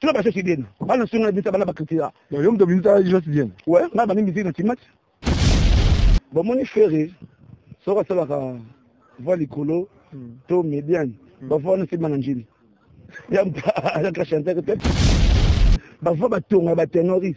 Tuna ba sesi bien. Bana sunga na bisa bana ba critique. Yo mto bisa just bien. Ouais, nga bani musique na timati. Ba moni ferre soka sala ka voix likolo hmm. to median. Hmm. Ba voix na sima na njini. Ya mpa ya ka chanter peut-être. Ba voix ba tonga ba tenoris.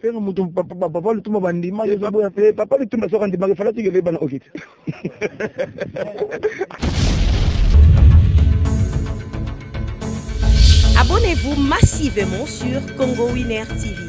fere mutu papa lutumba bandimaki ezoboya mpe papa lutumba soki andimaki falaki kebe bana okiti Abonnez-vous massivement sur Congo Winner TV.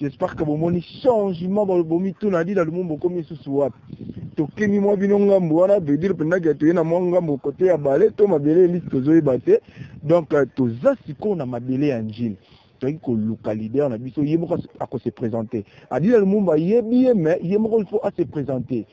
j'espère que bomoni changement bomituna adida lumumba okomi lisusu wapi tokimi mwa bino ngambo wana vedire mpendaki atoye na mwa ngambo kote ya bale to mabele elisi tozoyeba te donc euh, toza sikoyo na mabele ya njini toyaki koluka leader na biso ye moko akose présente adida lumumba ayebi ye mais ye moko il faut ase présente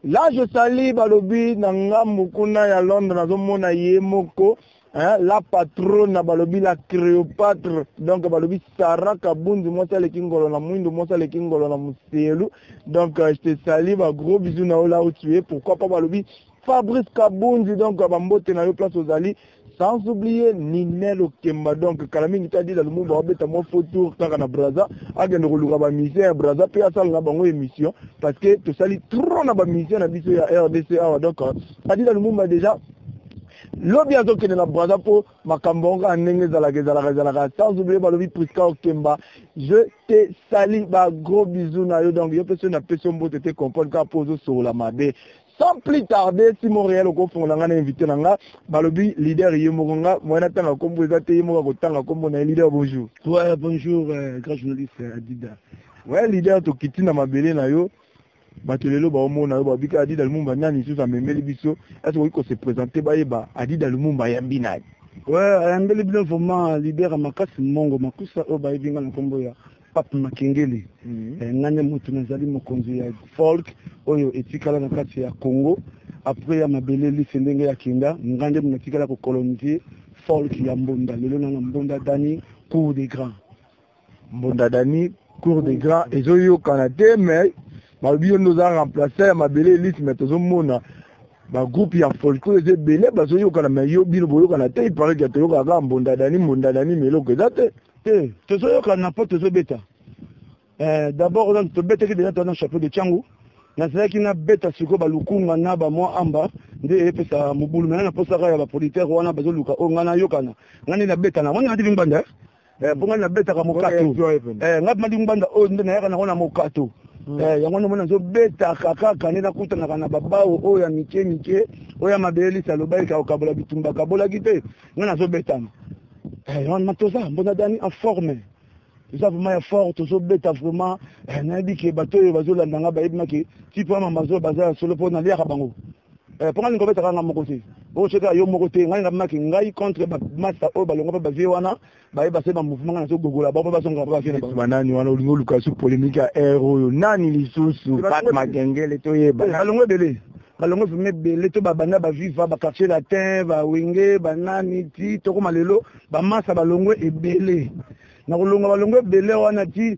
là je sali balobi na ngambo kuna ya londres nazomona ye moko hein, la patrona balobi la Cléopâtre donc balobi Sarah Kabundu mwasi aleki ngolo na mwindo mwasi aleki ngolo na muselu donc euh, je te salue ba gros bisous na yo là où tu es pourquoi pas balobi Fabrice Kabundu donc euh, bambote na yo place ozali sans oublier Ninel Okemba donc kala mingi te adila Lumumba abeta mwa faux tour kaka na Brazza akende koluka ba musiciens ya Brazza mpe asala na bango émission parce que tosali trop na ba musiciens na biso ya RDC awa donc euh, adila Lumumba déjà Lobi azokende na Brazza po makambo yango kaka ndenge ezalaka ezalaka ezalaka sans oublier balobi Prisca Okemba je te sali ba gros bisous na yo donc yo pe soki napesi yo mbote te comprendre kaka po ozosolola mabe sans plus tarder si montréal okofongola ngai na invité na nga balobi leader ye moko nga moyen natanga nkombo eza te ye moko akotanga nkombo na ye leader bonjour ouais, bonjour euh, grand journaliste euh, adida ouais leader tokiti na mabele na yo bato lelo baomona yo babika adida lumumba nani lisusu amemeli biso ese koki kose présente bayeba adida lumumba ayambi nani we ayambeli bino vraimen lider ya makasi mongo makusa oyo bayebi nga na nkombo ya pape makengeli mhm. eh, nga nde moto nazali mokonzi ya folk oyo etikala na kati ya congo apres ya mabele lise ndenge ya kenda nga nde natikala kokolonise folk ya mbonda lelo na na mbonda dani cour de grand mbunda dani cour de grand ezoyokana te mais balobi yo nde oza remplace ya mabele elise mais tozomona bagroupe ya folko eza ebele bazoyokana mais yo bino boyokana te ipareke toyokaka kaka mbunda dani mbunda dani ma eloko eza te te tozoyokana mpo tozobeta eh, d'abord oza tobetaki deja toza na chapeau de changu nazalaki nabeta sikoyo balukunga na bamwa amba nde epesa mobulu mena naposaka ya bapolitere wana bazoluka oyo ngai nayokana ngai nde nabetana wana natibi mbanda eh, mpo ngai nabetaka mokato eh, ngai madi ngbanda oyo nde nayaka nango na mokato hmm. eh, yango nomona nazobetaka kaka nde nakutanaka na babao oyo ya mike mike oyo ya mabele lisa alobaki kakokabola bitumba kabolaki te ngai nazobetana wana toza mbona dani en forme toza vraiment ya fort tozobeta vraiment nayebi ke bato oyo bazolanda ngai bayebi maki tipe ya mamazo baza ya solo mpo naliaka bango eh, mpo ngai lingo betaka ngai moko te okosoka yo moko te ngai ngamaki ngai contre bamasta oyo balonga mpe bavie wana baye base bamouvement ngai nazogogola bango mpe bazonga mpe bavie banani wana olingi oluka su polémique ya aire oyo nani lisusu pat makengele toyeba balongo ebele balongo vrima ebele to babanda baviva baquartier latin bawenge banani ti tokoma lelo bamasta balongo ebele nakolonga balongo ebele wana ti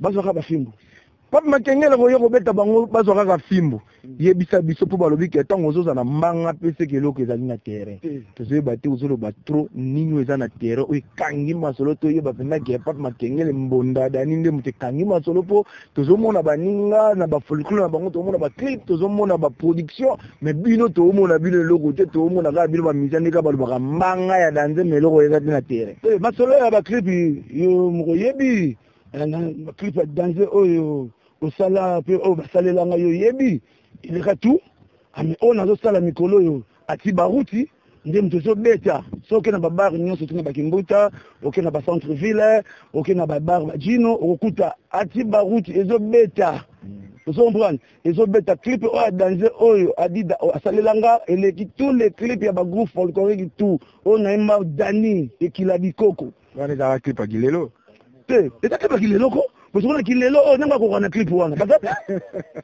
bazwa kaka fimbu pape makengele koya kobeta bango bazwa kaka fimbu yebisa biso mpo balobi ke ntango ozoza na mbanga mpe seke eloko ezali na terrain tozoyeba te ozoloba trop nini oyo eza na terrain oyo ekangi masolo toyeba mpenza ke pape makengele mbonda dani nde moto ekangi masolo mpo tozomona baninga na bafolklore na bango tozomona baclip tozomona baproduction mais bino toomona bino eloko te toomona kaka bino bamisa nde kaka balobaka mbanga ya danze ma eloko eza te na terrain masolo ya baclip yo mokoyebi clip ya danse oyo osala mpe oyo basalela ngai oyebi ileka tu ami oyo nazosala mikolo oyo ati baruti nde moto ezobeta so oke na babare nyonso oke na bakimbuta oke na bacentre ville oke na babare bajino okokuta ati baruti ezobeta ozo comprendre ezobeta clip oyo ya danze oyo adida asalela nga eleki tous les clip ya bagroupe folklorique tout oyo nayemba dani ekila bikoko wana ezalaka clip ya kilelo te eza clip ya kilelo ko bosokona kilelo oyo oh, nanga akokoka na clip wana baza te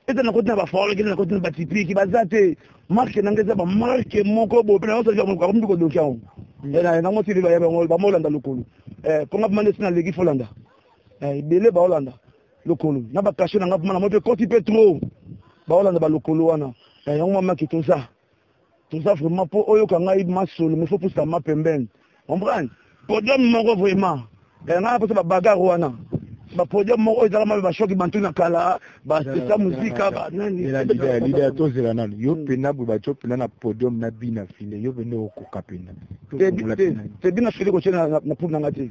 eza na koti na bafolo kende na koti na batipiki baza te marke nanga eza bamarke moko bope na yosaki yango akomi kodoki yango hmm. eh, nango sili bayeba yango bamolanda lokolo eh, mpo nga bamande si naleki folanda eh, ebele baolanda lokolo na bakashe nanga mpoma na moi mpe koti mpe trop baolanda balokolo wana yango mamaki toza toza vraiment mpo oyoka ngai masolo mifo pusa ma pembeni comprendre podium moko vraiment eh, ngai mposa babagar wana bapodium moko oyo ezalaka mabe bashoki bantu na kala bapesa muzika bananilidea tozela nano yo mpena hmm. boye bato mpena na podium na bina file yo pende okoka mpena te bina file kotie na poule na ngai te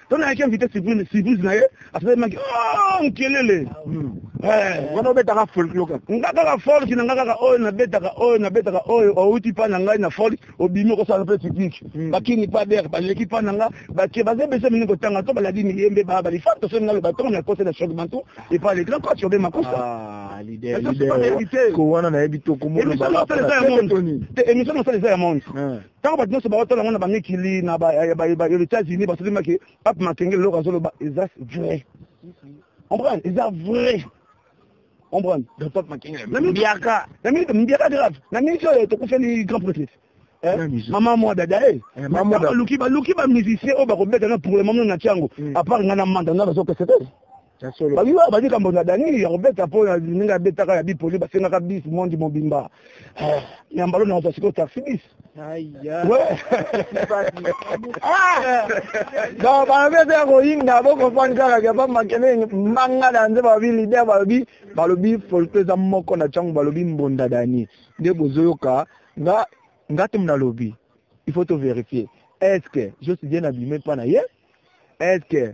to nayaki invité surprise surprise na ye asalemaki oh, nkelele hmm. eh. wana obetaka folk yoka nga kaka folk na nga kaka oyo nabetaka oyo nabetaka oyo outi pa na ngai na folk obimi okosala mpe technique hmm. bakini pa der baleki pa na nga bake baza ebese mingi kotanga to baladi miyembe ba balifa tosoni na loba tongo na kose na choc bantu epa le grand coach obe makosa ah, ko wana nayebi tokomoemission mosala eza ya monde ntango bato nyonso baotala yango na bamikili na baetats-unis basolimaki pape makengeli eloko azoloba eza vrai comprendre eza vrai comprendre mbiaka mbiaka grave na mingi oyo tokufeli grand prêtre eh, mama mwa dada e eh, baluki bamusicien oyo bakobeta na pour le moment na tiango apart ngai na manda ngai bazopesa te babi ba bandi kambo na dani ya kobeta mpo na ndenge abetaka ya bipoli basengaka bis mondi mobimba eh, nyambalo na ozwa sikoyo taxi bis donc babeta ya koyinda bokofani kaka kapa makele mbanga na nze balobi lider balobi balobi folto eza moko na ntango balobi mbonda dani nde bozoyoka nga nga te mnalobi il faut to vérifier est ce que josi bien abime mpa na ye est ce que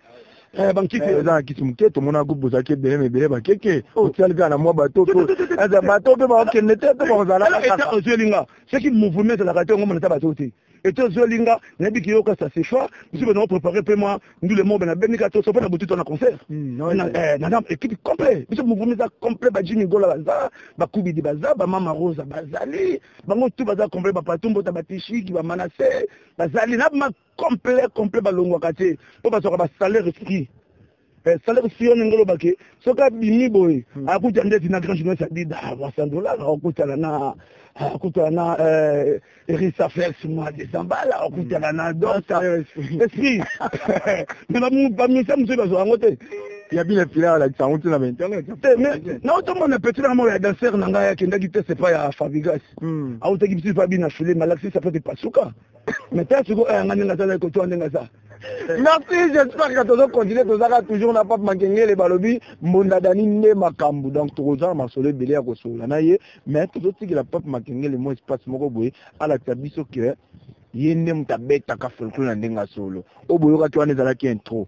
Eh, bankisi eh, eza na kisi moke tomona groupe bozalaki ebele na ebele bakeke oh. otiali kaka na mwa bato to eh, bato mpe bakokende te to bakozalaka ozweli nga soki mouvement ezalaka te yango monata bato te ete ozweli nga nayebi kiyoka sa sechoir mosusu mpe naoprépare mpe mwa ndule mobe nabendika to sope na butu to na concert hmm, nana équipe complet biso mouvement eza complet bajimi gola baza bakubidi baza bamama rosa bazali bango tu baza complet bapatumbo ta batishiki bamanase bazali na complet complet balongwaka te mpo bazwaka basalaire free eh, salaire free wana ngoloba ke soki abimi boye hmm. akuta ndeti na grand journaliste adida ah, wasandolaka okutana na ah, akutana na eh, erisa flex mwa desambala akutana na hmm. dosa esprit me bamisa mosusu bazwa yango te ya bino epila alakisa yango ntina ba internet te mais naotomona petit na moko ya danser na ngai akendaki test epai ya fabrigas autaki bisu epai bino afileme alakisi sapate pasuka mais ta sikoyo ayanga ndenge aza naye kotoa ndenge aza merci j'espère que tozo continue tozaka toujours na pape makengele balobi mbonda dani nde makambo donc tokozala masolo ebele ya kosolola na ye mais tozotikela pape makengele mo espace moko boye alakisa biso ke ye nde moto abetaka folklore na ndenge ya solo oyo boyokaki wana ezalaki intro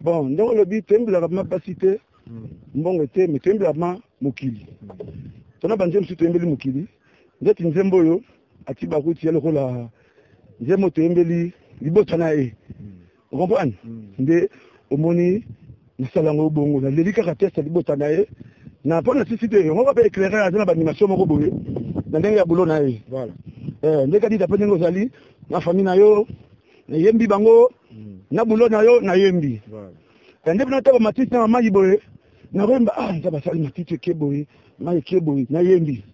bon ndenge olobi toyembelaka ma basi te hmm. mbongo te me toyembelaka ma mokili tona banzembo mosusu toyembeli mokili ndeti nzembo oyo ati bakuti ya lokola nzembo toyembeli libota na ye hmm. okomprane hmm. nde omoni nasala yango bongo naleli kaka teste ya libota na ye na mpo na sisi te yango kaka mpe éclaireur aza na banimation moko boye na ndenge ya boulot na ye eh, nde kadita mpe ndenge ozali na famille na yo nayembi bango hmm. na bulo na yo nayembi nde bino ata bamatisi na mamai boye nakoyemba ah nza basali matiti eke boye mai eke boye nayembi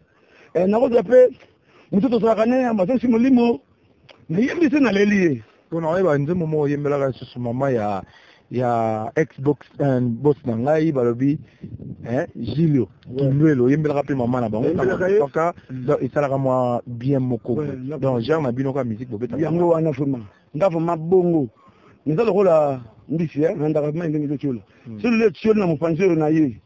eh, nakozwa mpe motu tozalaka ne mazosi molimo nayembi se naleli ye mpo na oyeba nzembo moko oyembelaka lisusu mama ya ya xbox euh, boss na ngai balobi eh, julio kindwelo oyembelaka mpe mama na bango kaka esalaka mwa bien moko donc genre na bino ka musique bobeta yango wana vraiment nga vraiment bongo naza lokola mbisi eh, nandaka mai ndenge ezotiola hmm. solo le tioli na mopanzi oyo na ye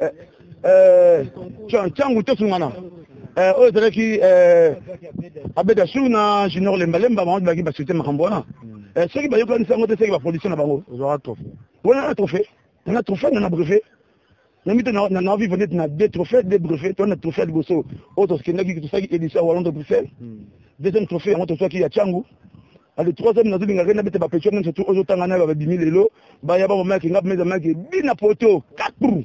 eh, eh, ntango tosungana eh, oyo ezalaki abeda sur na junior lembalemba bango tobaki basute makambo wana hmm. soki bayokanisi yango te soki baproduction na bango wana na trophée na trophée na na brevet na mito na vive neti na deux trophées deux brevet to na trophée ya liboso oyo tokendaki tosaki édition ya wallon de bruxelles hmm. deuxième trophée yango tozwaki ya cangu na le troisième nazo linga kenda bete ba pecho même surtout ozo tanga na ba bimi lelo ba ya ba mama kinga meza maki bina poto katru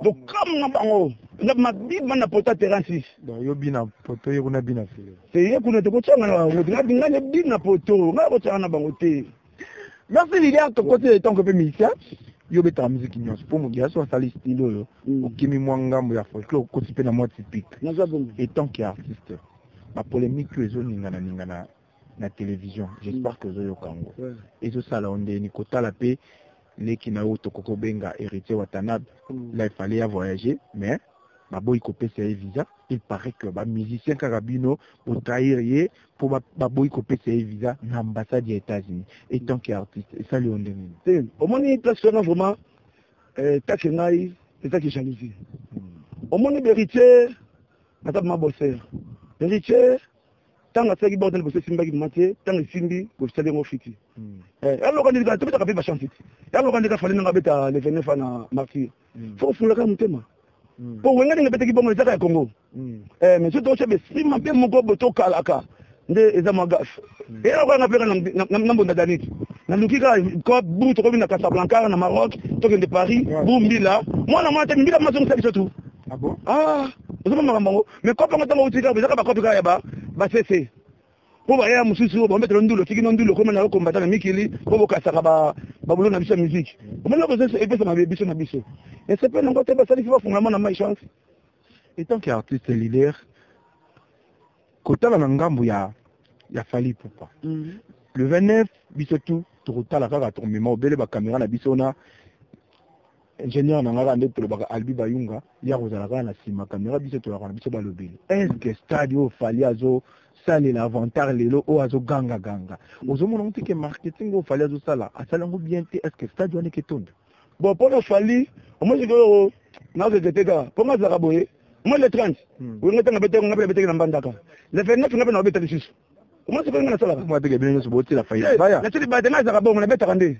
do kam na bango na ma bima na poto terrain 6 donc yo bina poto yo kuna bina filo c'est ye kuna te ko tsanga na bango na binga ne bina poto na ko tsanga na bango te merci Lilian to côté de ton que musicien yo betaka miziki nyonso mpo moto ya so asali style oyo mm. okimi mwa ngambo ya folklore okoti mpe na mwa typique etant que artiste bapolémique oyo ezoningana ningana na television j'espère que ozoyoka yango ezosala yo ndeni kotala mpe leki na yo tokoki kobenga héritier watanabe mm. la ifale ya voyager mais baboyi kopesa ye visa il paraît que bamusicien kaka bino botrahir ye mpo baboyi kopesa ye visa na ambassade ya états-unis et tant que artiste esali yo ndenge nini te omoni place wana vraiment eh, take ngai ezaki jalousie hmm. omoni beritier naza mabosere beritier ntango asalaki bord na liboso esimbaki mama te ntango esimbi kosali yango fiti hmm. eh, yaloka ndika tobetaka mpe bachance ti yaloka ndika fali nanga abeta le 29 ana martyr hmm. fo osololaka motema hmm. mpo wenga ndenge ebetaki bongo ezaka ya congo eh, mais soki tokotyaba esprit mabe moko bo tokalaka nde eza mwa gafe eyaloka nga mpeka na mbonda danite naluki kaka bu tokomi na casablanca na maroc tokende paris bu mbila mwana mwana te mbila mazongisa biso tu ah, ah ozomamaka bango me kope yango ntango outi kaka ezaka bakope kaka ya basese mpo baya mosusu oyo bambetela ndulu otiki no ndulu okoma nayo kombata na mikili mpo bokasaka babulo na biso ya miziki omoni okozo epesa mabe biso na biso esepe nango te basalisi bafungama na mai chance etant que artiste leader kotala na ngambo ya ya fali pupa mm. le 29 biso tout tokotala kaka tokomema obele bakamera na biso na ingénieur na ngaka nde tolobaka albi bayunga ye akozala kaka na nsima kamera biso tolaka na biso balobeli estce stade oyo fali azosalela avantar lelo oyo azoganga ganga ozomona ngo teke marketing oyo fali azosala asala yango bien te estce stade wana eketondo bon mpo na fali omosoki oyo nakokeke te kaka mpo nga azalaka boye moi le 30 hmm. oyo nga tanga beteke nga mpe beteke na mbandaka le 29 nga mpe na obeta lisusu omosoki oyo nga nasalaka natili baya te nga azalaka bongo nabetaka nde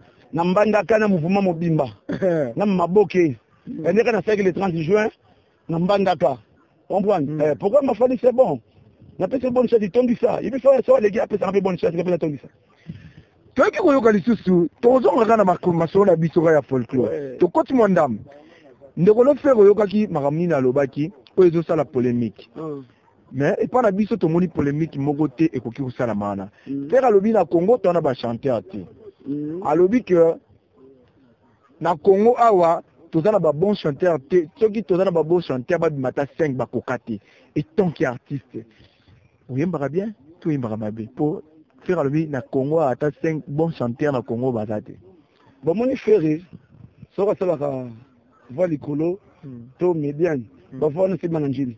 na mbandaka na mouvement mobimba na maboke yandeka na saki le 30 juin na mbandaka comprendre mm. eh, pourquoi mafani c'est bon napesi bonne chance itondisa yebi fa so aleki apesaka mpe bonne chance kapesa tondisa toyaki koyoka lisusu tozongaka na masolo na biso ka ya folklore tokoti mwa ndambo ndeko lofere oyokaki makambo nini alobaki oyo ezosala polemique mm. mais epa na biso tomoni polemique moko te ekoki kosalama wana mm. fere alobi na congo to wana bachanteur te mm. alobi ke na congo awa toza na babon chanteur te soki toza na babon chanteur babima ata 5 bakoka te etanke artiste oyembaka bien to oyembaka mabe mpo fere alobi na congo awa ata 5 bon chanteur na congo baza te bamoni fere soki asalaka va likolo mm. to mediane mm. bavana nsima na njini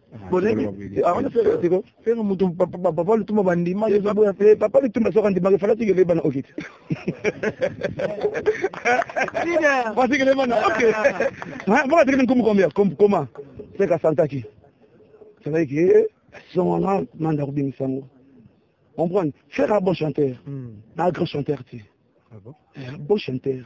fere mutu papa lutumba bandimaki ezoboya mpe papa lutumba soki andimaki falaki kebe bana oke te falaki kebe bana oke mboka tekete nkumu kombia koma seka santaki santaki ke eh, songo na manda kobimisa yango comprendre fere a bon chanteur na grand chanteur te bon chanteur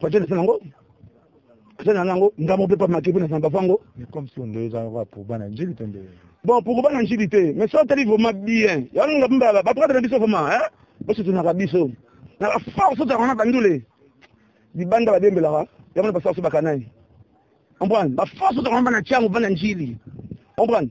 patel sanango sana nango ngamo pe pa makibu na samba fango mais comme si on devait avoir pour bana njili tende bon pour bana njili te mais ça tali vraiment bien yango ngam baba ba prendre biso vraiment hein parce que tunaka biso na la force ta kona bandule libanda ba dembela wa yango ba force ba kanai on prend ba force ta kona bana changu bana njili on prend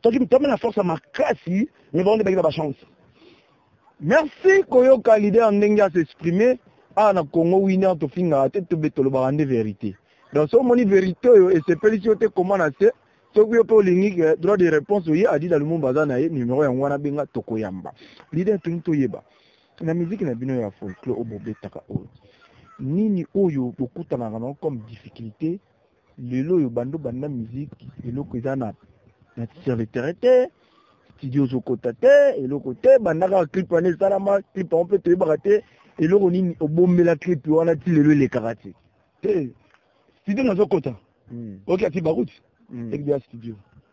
Toki mtome na force makasi mais bango nde baki na ba chance. Merci koyoka leader ndenge a s'exprimer awa na Congo winner tofingaka te tobe tolobaka nde verite. Donc soki omoni verite oyo esepelisi yo te koma na se soki yo mpe olingi eh, droit de réponse oye adida lumumba aza na ye numero yango wana benga tokoyamba leader tolingi toyeba na miziki na bino ya folklore oyo bobetaka oyo nini oyo bokutanaka nango comme difficulté lelo oyo bando banda musique eloko eza na na serviteur te studio ozokota te eloko te banda kaka clip wana esalama clip yango mpe toyebaka te eloko nini obombela clip wana ti lelo elekaka te te studio nazokota hmm. oki ati baruti hmm. ekibi ya studio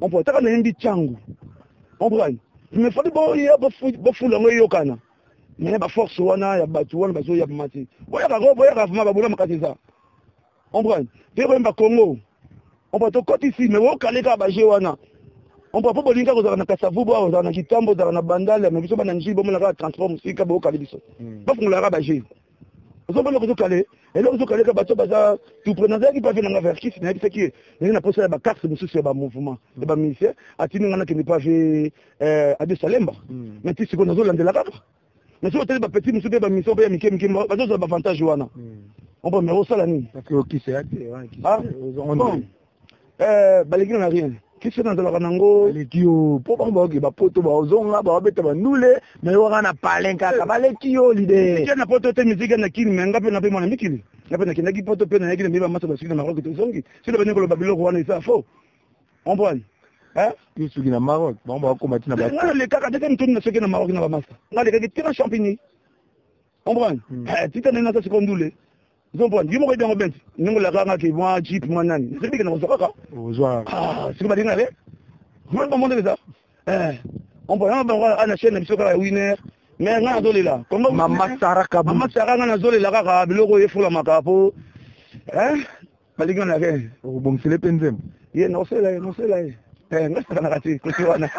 Ompo ataka na yembi changu. Omprani. Mais fadi bo ya bo fu bo fu lango yokana. Mais ba force wana ya batu wana bazo ya mati. Boya ka go boya ka vuma ba bula makati za. Omprani. Te ko yemba Congo. Ompa to koti si mais wo kale ka ba je wana. Ompa po bolinga ko zaka na kasavu bo ozaka na kitambo zaka na bandale mais biso bana nji bo mona ka transport musika bo kale biso. Ba fungula ka ba je. ozo bana kozo kale eloko ozo kale ka bato baza tout près nazalaki pa vie na nga vers kisi nayebisaki ye ndenge na posa ya ba carte mosusu ya ba mouvement ya ba musicien atindi nga nakende pa vie eh, ade salemba hmm. mais ti sikoyo nazo landela kaka mais soki otali ba petit mosusu mpe ba mission mpe ya mike mike bazozwa ba avantage wana hmm. ompo mais osala nini ah, eh, baleki na rien kisi nazalaka nango baleki yo mpo bango baoke bapoto baozonga baobeta bandule mai waka na palen kaka eh. baleki yo lide na poto te miziki na kini mai nga mpe na mpe mwana mikili nga mpe nakendaki poto mpe nayaki na miba masa basuki na maroke tozongi sila bani koloba biloko wana eza fo omprane yo soki na maroc bango bakoma ti na ba nga lekaka tete motoni na soki na maroc na bamasa nga lekaki tika champigny omprane tita nde nasa sikoyo ndule Zombon, yo moko yebi yango bent ndenge olaka nga ke mwa jeep mwa nani nasebi kende kozwa kaka ozwa ah, siko balingi na le mwana bango ndenge eza eh, ompo yango bango ana chaine na biso kaka ya winer me nga nazolela mama sara nga nazolela kaka biloko oyo efulamaka po eh, balingi wana ke okobongisele mpe nzembo ye nosela ye nosela ye eh, nga sakanaka te kosi wana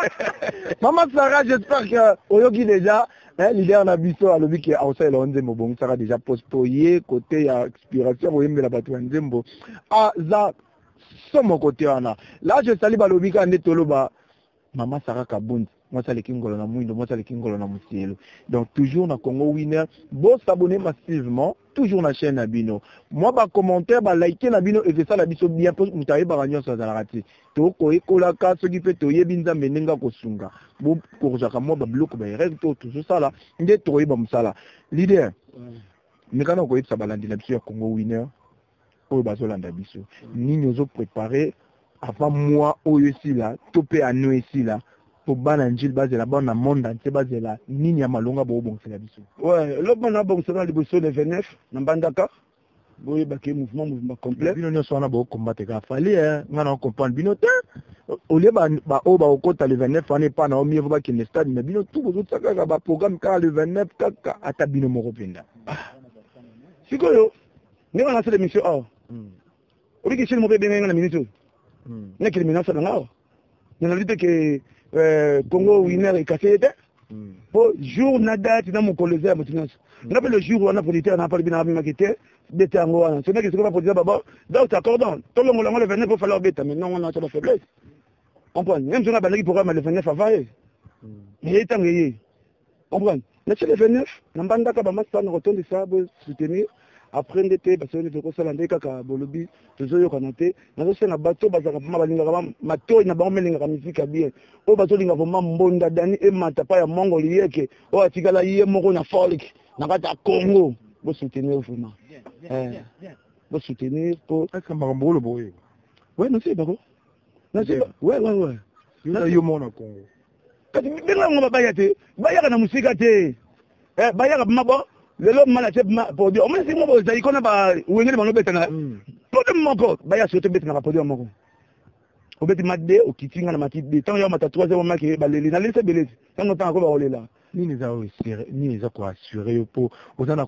mama sara j'espère que oyoki déjà eh, leader na biso alobi ke akosalela yo nzembo obongisaka déjà poste mpo ye kote ya expiration koyembela bato ya nzembo aza somo kote wana la je sali balobi kaka nde toloba Mama Sarah Kabund, moi ça les Kingolo na Mouindo, moi ça les Kingolo na Moussielo. Donc toujours na Congo Winner, bon s'abonner massivement, toujours na chaîne Abino. Moi ba commentaire, ba liker na Bino et ça la biso bien pour mutaye ba ranyon sa zalarati. To ko ekola ka ce qui fait to yebi nzambe nenga ko sunga. Bon ko jaka moi ba bloc ba rêve to toujours ça là, nde to yeba musala. Leader. Mikana ko yebisa balandi na biso ya Congo Winner. oyo bazolanda biso nini ozo prepare avant moi oyo esila to mpe ano esila mpo bana njili bazela bana na monde entier bazela nini ya malonga boobongisela biso ouais eloko bana abongisela liboso le 29 na mbandaka boyebaki mouvement mouvement complet bino nyonso wana bokombate kaka fali eh, ngai na comprendre bino te olie baoyo bakokota le 29 wana epa na omie vo bakende stade na bino tu bozotia kaka baprogramme kaka le 29 kaka ata bino moko mpenza ah. sikoyo nde wana asala emission awa hmm. obiki chine moko ebengaki nga na minute oyo hmm. nakende mina asala nga awa nalobi te ke euh, congo winer ekase ye te hmm. po jour na date na mokolo eza ya moto nyonso nga mpe le jour wana politere na palibi na amemaki te bete yango wana so ndaki sikoba politere baba donc accordant tolongola yango le 29 po fala obeta mais nongo na sala faiblesse comprendre même so nga bandaki programme ya le 29 avaye eye ntango eye Comprendre? Na chez le 29, na mbandaka ba masta na kotondisa bo soutenir après nde te basoki nde tokosala nde kaka bolobi tozoyokana te nazosenga bato oyo bazalaka mpama balingaka matoi na bango melingaka miziki ya bien oyo bazolinga vraimen mbonda dani emata pa ya mongo liyeke oyo atikala ye moko na folk na kati ya congo bosoutenir vraimen eh, bosoutenir po makambo oloba oyo we nasebako naseba we we we yo moko na congo kasi benga bango babaya te bayaka na mosika te eh, bayaka bma bo lelo mala te bma podio omoni simo bozali kona bawengeli bango betana mm. podio moko baya soki tobetanaka podio moko obeti ma de okiti nga na mati de ntango ya mata trois heures omaki baleli nalelisa ebelesi ntango ntango akoba kolela nini eza nini eza koassure yo mpo oza na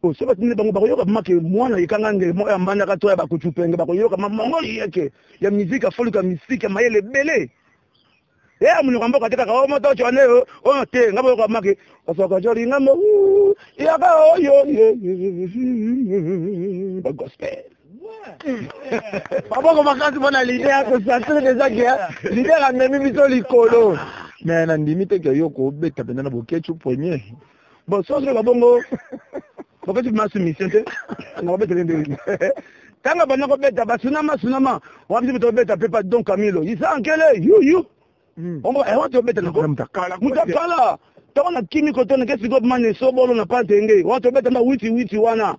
po soki batindi bango bakoyoka mama ke mwana yekanga ngele moko ya mbandaka to ya bakucupenge bakoyoka mamango yeke ya miziki ya foluka misiki ya mayele ebele ye eh, amonyoka mboka te kaka o oh, moto oco ane oyo oh, oh, te nga boyoka maki osoka joli nga mo yaka oyo bagospel baboko makasi mpo na lide ya kosasire deja ke lide amemi biso likolo me nandimi te ke yo kobeta mpenza na boketsu premier bon soki ozoloba bongo bokoti bima soumission te na kobetele ndenge ntango abanda kobeta basunama sunama wana biso tobeta mpe pa don camilo isa ankele yuyu hmm. ombo ewa eh, tobeta nako mutakala ntango na kimi kotoneke sikoyo mane sobolo na pantenge wana tobeta mba witi witi wana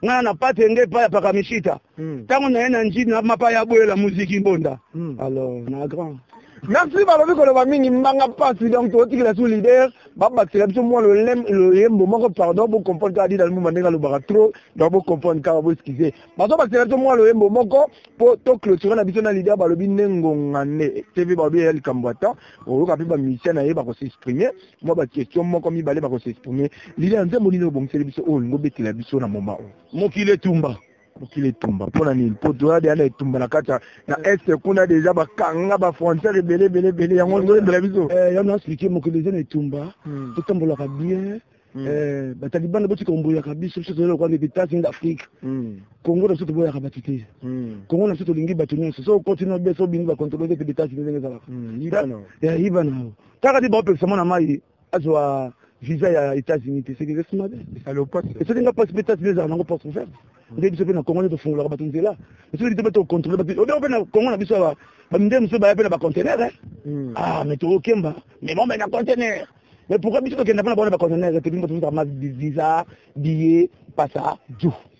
ngai na pate nge epai ya pakamisita ntango hmm. naye na nji na mapa ya boyela muziki mbonda hmm. alors na grand merci balobi koloba mingi mbanga mpasi donc totikela su leader babakisela biso mwa loyembo moko pardon bocomprendre kaka dida lumuma ndenge alobaka trop donc bocomprendre kaka boeskize bazobakisela biso mwa loyembo moko mpo toclotire na biso na leader balobi nde ngonga nde tv balobi eya likambo ata oyoka mpe bamusicien na ye bakosexprime mwa ba question moko mibale bako se exprimer lile ya nzembo nini obongiseli biso oyo olingi obetela biso na moma oyo mokili etumba mokili etumba mpo na nini mpo toya deya na etumba na kati na est kuna deja bakanga bafrontière ebele ebele ebele yango nzoyembela biso eh, yango naexplike mokili eza na etumba hmm. totambolaka bien hmm. eh, batalibana botika omboyaka biso biso tozali lokola ndete etats-unis d'afrique hmm. congo na biso toboyaka bato te congo na biso tolingi bato nyonso so okoti na bes obingi bacontrole te mpe etats-unis ndenge ezalaka yibana Kaka nde baopekisa mwana mai azwa visa ya États-Unis te seke reste mabe esali nga pasi mpe États-Unis ezala nango porte ouverte mm. nde biso mpe na Congo nde tofungolaka bato nzela biso lite mpe tocontrole bato obe mpe na Congo na biso awa bamindele mosusu baya mpe na bacontener eh? mm. ah mais tokokemba mais bombe na contener mais pourquoi biso tokenda mpo na baona bacontener te bino bato visa billet pasa du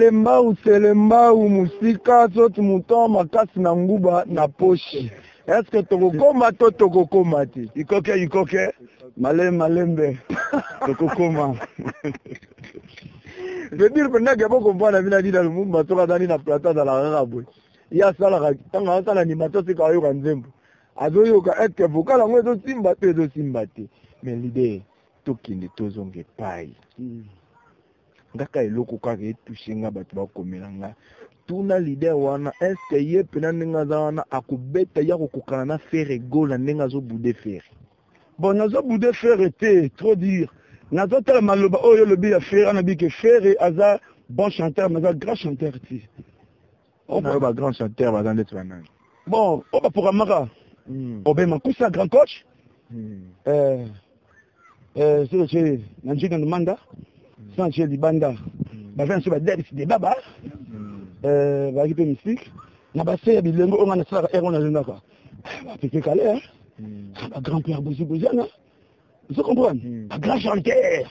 telembau telembau mosika soti moton makasi na nguba na poshi eske tokokoma to tokokoma te ikoke ikoke male malembe tokokoma vedire mpenza ke bokompana bina dina lumumba soki azali na plateau azalaka kaka boye ye asalaka ntango asala animation sika ayoka nzembo azoyoka eske vokal yango ezosimba to ezosimba te mais lider tokende tozonga epai mm. ngaka eloko kaka etushe nga bato bakomela nga tuna lider wana eske ye mpena ndenge aza wana akobeta ya kokokana na fere gola ndenge azobude fere bon nazobude fere te trop dire nazotala maloba oyo olobi ya fere anabike fere aza bon chanteur mais aza grand chanteur te Oh, oyo ba grand chanteur baza ndeti banani bon oyo baprogrammaka hmm. obe makusa grand coach hmm. eh, eh, selo ce na njinga nomanda hmm. sans ce libanda baza na so badebisi de baba eh, bazalaki mpe mystique na base ya bilengo oyo ngai nasalaka ere wana azongaka bapeke kale ba grand pierre boziboziana ozo comprendre ba grand chanteur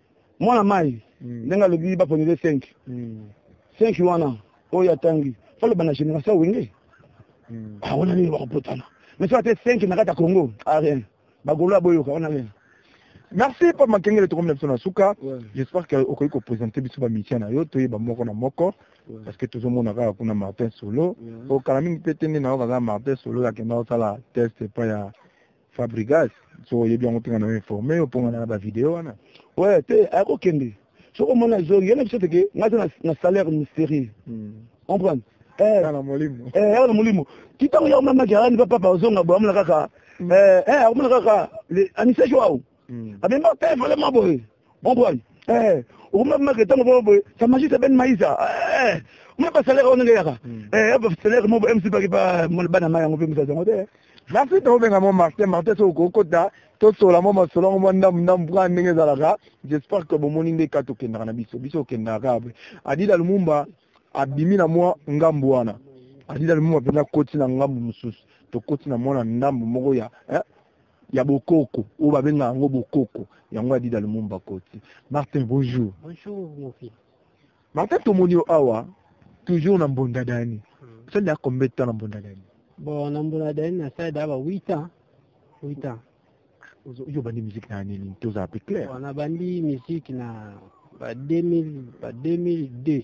mwana mai hmm. ndenge alobi baponele 5 5 hmm. wana oyo atangi faloba na génération wenge hmm. ah, wana nini bakopotana mais soki ate 5 na kati ya congo ah, rien bagolo aboyoka wana rien merci pa makengele tokomi na biso na suka j'espère que okoki kopresente biso bamitia na yo toyeba moko na moko parce que tozomona kaka kuna martin solo okala mingi mpe te nde na yo kaza martin solo akenda kosala test epai ya fabrigas so oyebi yango mpenga na informe yo mponga na bavideo wana we te ayakokende soki omona ezongi yo na biso teke ngai te na salaire mystérieux hmm. comprendre eh. na molimo eh, yaka na molimo ti ntango ya omamaki alani pa papa ozonga boye amona kaka hmm. eh, akomona kaka anisaki wao hmm. abima eh, vraiment boye ombrani eh, okomamaka ntango boo boye sa magiste ben maisa eh, mwa basalaire oyo ndenge yaka hmm. salaire mo mc baki bana ma yango mpe mosazi yango te nasi tokobenga mo martin martin so okokota tosola mwa masolo yango mwa ndambu ndambu kaka ndenge ezalaka j'espère que bomoni nde kati okendaka na biso biso okendaka kaka boye adida lumumba abimi na mwa ngambu wana adida lumumba mpenza akoti na ngambu mosusu tokoti na mwana ndambu moko ya eh, ya bokoko oyo babenga yango bokoko yango adida lumumba koti martin bonjour bonjour mon fils martin tomoni yo awa toujours na mbonda dani hmm. osali ya combien de temps na mbonda dani bon na mbonda dani nasali da ba 8 ans 8 ans yo bandi musique na nini tozala pe clair bon nabandi musique na ba 2000 ba 2002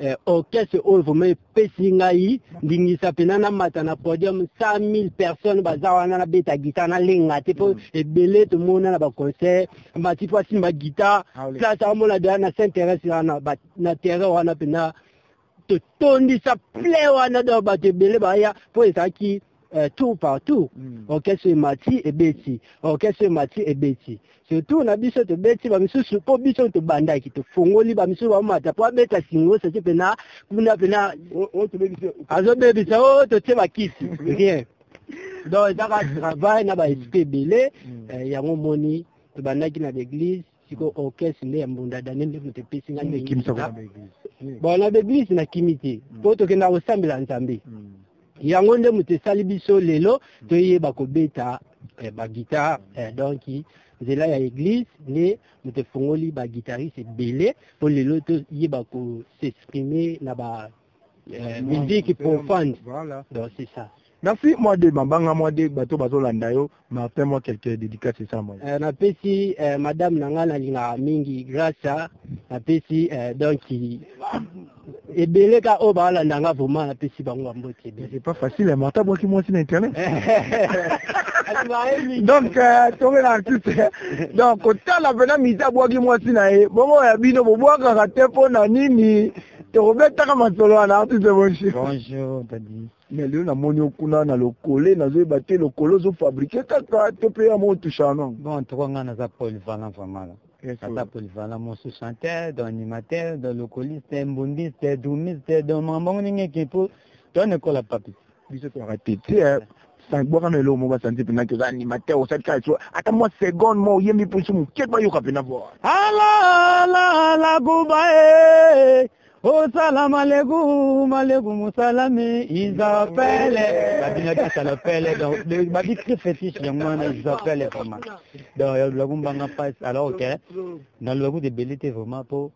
eh, orchestre oyo vraimen epesi ngai ndingisa mpena namata na podium 100 000 personnes baza wana nabeta guitare nalenga te mpo mm. ebele tomona na baconcert mati mpo asimba guitare ah, place aomona deja na saint thérèse wana na terrain wana mpena totondisa plein wana donc bato ebele baya mpo ezalaki euh, tour partout mm. orchestre emati ebeti orchestre emati ebeti surtout na biso tobeti bamisusu mpo biso tobandaki tofongoli bamisusu bamata mpo abeta singo saki mpena kuna mpena azobebisa o oh, totie bakisi rien donc ezaka travail na baesprit ebele mm. euh, yango moni tobandaki na l'église siko orchestre nde ya mbunda daniel nde moto epesi ngai Nini ekimisa ko na ba eglise? Nini? bon na baeglise nakimi te Mm. mpo tokenda kosambela nzambe Mm. yango nde moto esali biso lelo toyeba kobeta eh, bagitare eh, donc nzela ya eglise nde moto efongoli bagitarise ebele mpo lelo toyeba kosexprime na ba euh, musique pour fans voilà donc c'est ça merci moi de mabanga moi de bato bazolanda yo martin moi quelques dédicaces esa moi euh, napesi euh, madame na ngai nalingaka mingi grâce a napesi euh, donc ebele ka oyo baalanda nga vraiment napesi bango bamboti ebele c'est pas facile hein, martin abwaki mwasi na internet donc euh, toke na artiste donc kotala mpena misa abwaki mwasi na ye bongo ya bino bobwakaka te mpo na nini tokobetaka masolo wana artiste bonjour bonjour tadi mais lelo namoni okuna na lokole nazoyeba te lokole ozofabrike kaka to mpe ya motushano bon toko ngai naza polyvalent vraiment naza polyvalent mosu chanteur do animateur do lokoliste mbundiste dumiste do makambo yango ndenge eke mpo toanekola papi biso to arrête tu sais bwaka na eloko moko basanzi mpena te oza animateur osali kaka so ata mwa seconde mwa oyembi mpo so moke bayoka mpena bwa alalakuba e osala maleku maleku mosalami isapele babinaki asala pele donc babi très fétiche yango wana isapele vraiment donc yalulaku mbanga pasi alors ke nalulaku debeli te vraiment mpo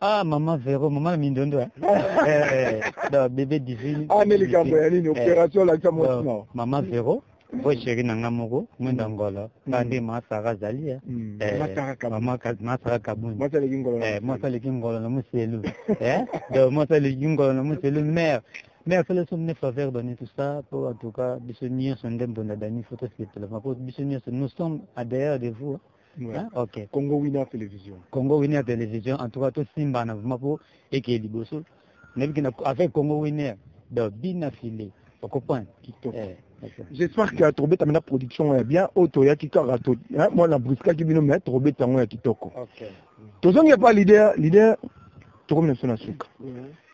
Ah maman Vero, maman Mindondo. Hein? eh, non, bébé divine. Ah mais les gars, il y a une opération là qui a monté non. Maman Vero. po sheri na nga moko mwenda mm. ngolo nga mm. nde masaka azali eh. mm. eh, masaka kabuni mwasi aleki ngolo na moselu eh, donc mwasi aleki ngolo na moselu mare mais afele so mine faveur dani tout ça po en tout cas biso nyonso nde mbonda dani fo tosepela po biso nyonso nous sommes à derrière de vous hein. Ouais. Hein? ok congo winner télévision congo winner télévision en tout cas tosimbana vraimen mpo ekeye liboso nayebi kena avec congo winner donc bina file okoprendre kitoko eh. j'espère que tokobeta mena production oyo ya bien oyo toyaki kaka mwa na briskaki bino mai tokobeta yango ya kitoko tozongi epa lider lider tokomi na biso na suka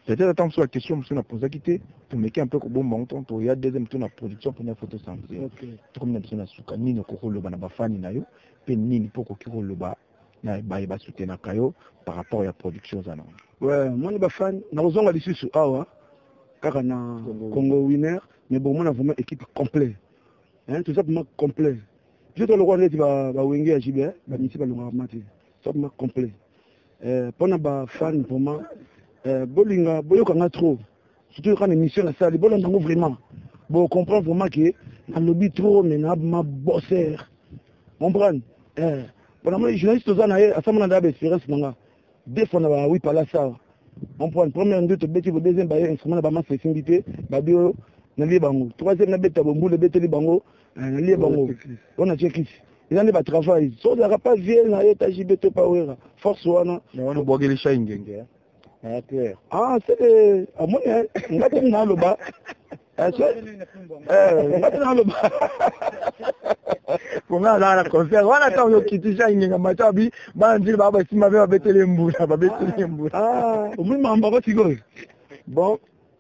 Peut-être tant sur la question monsieur na posa kite tomeki un peu kobomba ngo tant to ya deuxième tour na production pona photo santé okay. tokomi na biso na suka nini okoki koloba na bafani na yo mpe nini mpo okoki koloba na baye basutenaka yo par rapport ya production oza nango ouais, moni bafani nakozonga lisusu awa kaka na congo winner mais bomona vraiment équipe complet hein, toza vraiment complet biso tolokola neti bawenge ya jibe bamisi balongaka mati toza vraiment complet eh, mpo na ba fan vraiment eh, bolinga boyoka nga trop surtout yoka na émission na sali bolanda yango vraiment bo comprendre vraiment ke nalobi trop mais na ma bosser comprendre eh, mpona moni journaliste oza na ye asambana nda ya baespérance na nga deux fois na ba wi palasi awa comprendre première nde tobeti bo deuxième baye instrument na bamasa esimbi te babi oyo nalie bango troisième nabeta bombula ebeteli bango nalie bango wana atie kisi eza nde batravail so ozalaka pa vie na ye tajibe to pawera force wana wana obwakeli shai ngenge ah seke amoni nga te naloba nga te naloba ponga azala na concert wana ntango yokitisha ingenga mata bi bana nzili baa basimba mpe babetele mbula babetele mbula omoni mambo yango sikoyo bon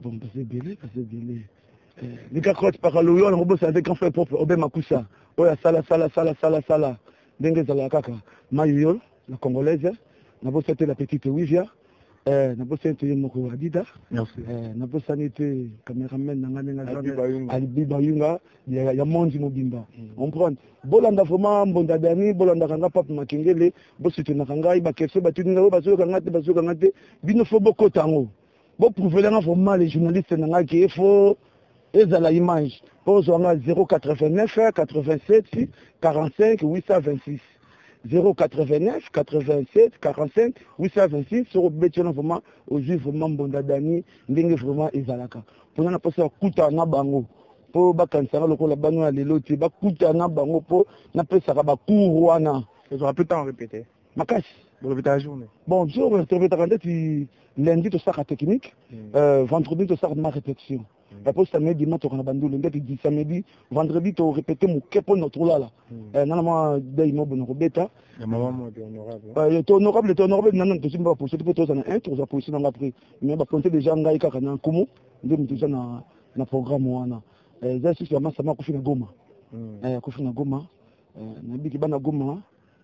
Bon, baza ebele baza ebele lika crote pakaloyo wana kobosana te grand frère propre obe makusa oyo asala sala sala sala sala ndenge ezalaka kaka mayoyo la congolaise nabosa te la petite wivia eh, nabosani te ye moko adida eh, nabosani te cameraman na ngai ndenge alibi bayunga ya mondi mobimba mm. comprendre bolanda vraiment mbonda dani bolandaka ngai pape makengele bosoutenaka ngai bakese batuni ngai oyo bazoyoka ngai te bazoyoka ngai te bino fo bokota yango Bo prouver nga vraiment les journalistes na nga qui est faux ezala image po zo nga 089 87 45 826 089 87 45 826 soko beti wana vraiment ozwi vraiment mbonda dani ndenge vraiment ezalaka mpona na mposa ya kuta na bango mpo bakanisaka lokola bano ya lelo te bakutana bango mpo napesaka bacour wana ezwaka mpe ntango repete makasi bolobi ta journée bon biso retobetaka ndeti lundi tosaka technique hmm. euh, vendredi tosaka ma répétition mpo samedi matoka na bandulu ndeti di samedi vendredi to répété moke mpo na tolala nana mwa dei mobo na kobeta to honorable to honorable nana tosi mpe bapolisi te mpo toza na un toza polisi na nga après mais bakonte déjà ngai kaka na nkumu nde moto eza na na programme wana eza lisusu ya masama akufi na goma akufi na goma nabiki bana goma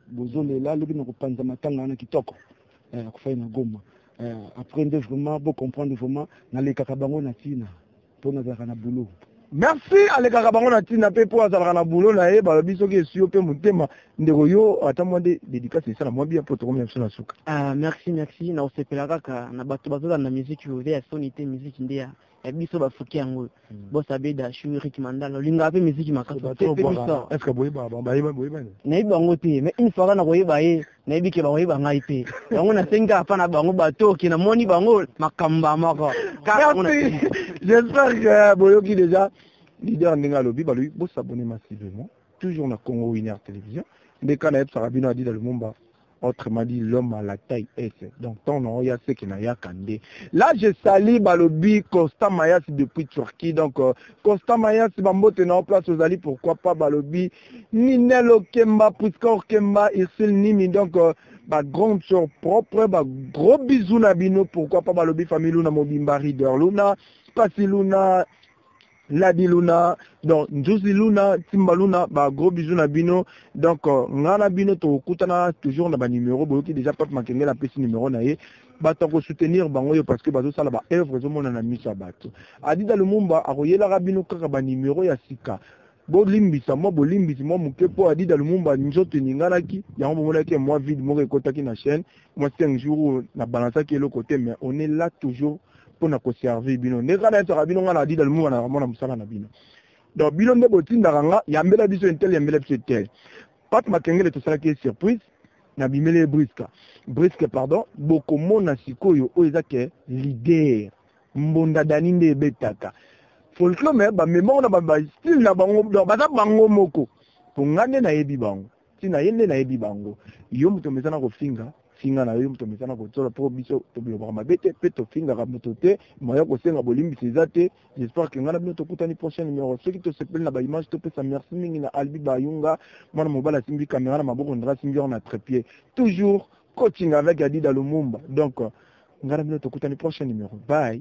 bozolela lobi na kopanza matanga wana kitoko eh, akufai na goma eh, après nde vraiment bocomprendre vraiment nalekaka bango na ntina mpo nazalaka na boulot merci alekaka bango na ntina mpe mpo azalaka na bulo na ye balobi soki esi yo mpe motema ndeko yo ata mwa nde dedikasi esala mwa bia mpo tokomi na biso na suka ah, merci merci na kosepela kaka na bato bazolanda miziki oyo ya soni te miziki nde ya ya biso bafuki yango oyo hmm. bos abeda shu rik mandala olingaka mpe miziki makasiayebi bango te ma une fois ka na koyeba ye nayebi ke bakoyeba ngai te yango nasengi kaka mpa na bango batoki namoni bango makambo ya moko j'espère que boyoki déjà leader ndenge alobi balobi bosabone massivement toujours na congo winner télévision nde ka nayebisaka bino adida lumumba autrement dit l'homme à la taille S donc tant na oya seke na yaka nde là je sali balobi Costa Mayas depuis Turquie donc euh, Costa Mayas bambote na o place ozali pourquoi pas balobi Ninel Okemba Prisca Okemba Ursule Nimi donc euh, ba grande sœur propre ba gros bisous na bino pourquoi pas balobi famille Luna mobimba Rider Luna Pasi Luna Ladi Luna, donc Nzuzi Luna, Timba Luna, ba gros bisous na bino. Donc euh, nga na bino tokutana toujours na ba numéro boyoki déjà Pape Makengela apesi numéro na ye. Bato ya kosoutenir bango yo parce que bazosala ba œuvre ezomona na miso ya bato. Adida Lumumba akoyelaka bino kaka ba numéro ya sika bolimbisa mwa bolimbisi mwa moke mpo adida lumumba nzoto eninganaki yango bomonaki mwa vide moko ekotaki na chaîne moi cinq jours oyo na balansaki eloko te mais on est là toujours mpo na koservir bino nde kaka nayebisaka bino ngai na adida lumumba na kamona mosala na bino donc bino nde botindaka nga yambela biso intel yambela biso intel pate makengele tosalaki ye surprise na bimeli ye briska briske pardon bokomona sikoyo oyo eza ke lider mbonda dani nde ebetaka folklore me bamemoko na bastile na bango donc baza bango moko mpo ngai nde nayebi bango ti na ye nde nayebi bango yo moto omesana kofinga finga na yo moto omesana kotola mpo biso tobilobaka mabe te mpe tofingaka moto te moya kosenga bolimbisi eza te j'espère ke ngai na bino tokutani prochain numero soki tosepeli na baimage topesa merci mingi na albi bayunga mwana mobali asimbi kamera na maboko ndra asimbi yango na trepied toujours coaching avec adida lumumba donc ngai na bino tokutani prochain numero bye